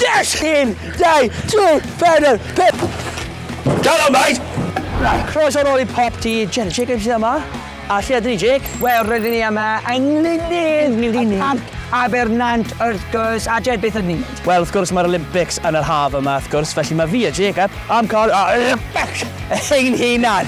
Yes! Un, dau, tri, pedr, pip! Dalo, mate! Croes o'r ôl i pop ti, Jerry Jacobs sydd yma. A lle ydyn ni, Jake? Wel, rydyn ni yma yng Nglynydd, Nglynydd. Parc Abernant, wrth gwrs, a Jed, beth ydyn ni'n gwneud? Wel, wrth gwrs, mae'r Olympics yn yr haf yma, wrth gwrs, felly mae fi a Jacob am cael Olympics ein hunan.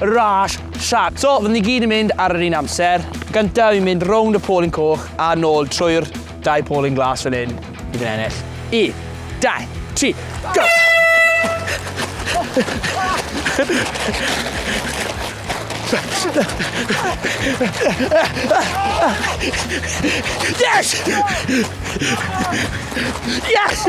Rush shot. So, fyddwn ni gyd yn mynd ar yr un amser. Gyntaf i mynd rownd y polyn coch a nôl trwy'r dau polyn glas fan hyn i fy ennill. I, dau, tri, go! Yes! Yes!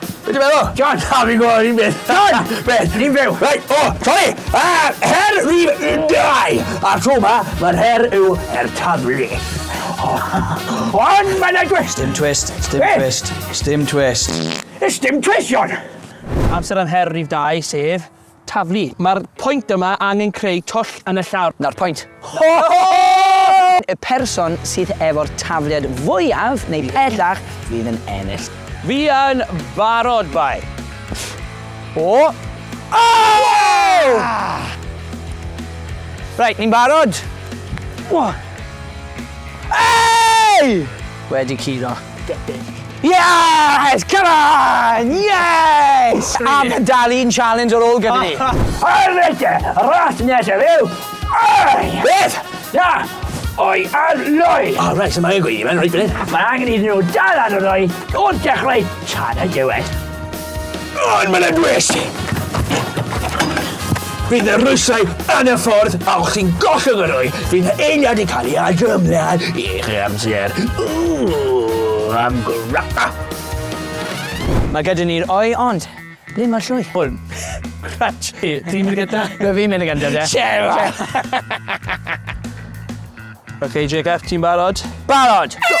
Be' ti'n meddwl? John! Na fi'n gwbo yr un beth. John! Be'? Ni'n fyw. Reit, o, sori! A'r her fydd yn dau! A'r tro ma, ma'r her yw her taflu. Ond mae na twist! Stim twist, stim Be? twist, stim twist. Is dim twist, John! Amser am her rif dau, sef... Taflu. Mae'r pwynt yma angen creu twll yn y llawr. Na'r pwynt. Ho ho! Y person sydd efo'r tafliad fwyaf neu pellach fydd yn ennill. Fi yn barod, bai. O! Ow! Reit, ni'n barod. Wha! Ei! Wedi curo. debyg. Yes! Come on! Yes! A mae dal un challenge ar ôl gyda ni. Arrete! Ras nesaf yw! Oi! Beth? Na! Oi ar loi! O, rhaid sy'n mae'n gweithio, mae'n rhaid fan hyn. Mae angen iddyn nhw dal ar y loi o'r dechrau tan y diwedd. Ond mae'n anwes! Bydd y rwysau yn y ffordd a o'ch chi'n gollwng yr o'i, bydd eiliad yn cael ei adrymlad i'ch amser. Ww, am gwrapa! Mae gyda ni'r oi, ond ble mae'r llwy? Wel, Rach, ti'n mynd gyda? Dwi fi'n mynd gyda, de. Sera! OK, Jacob, ti'n barod? Barod! So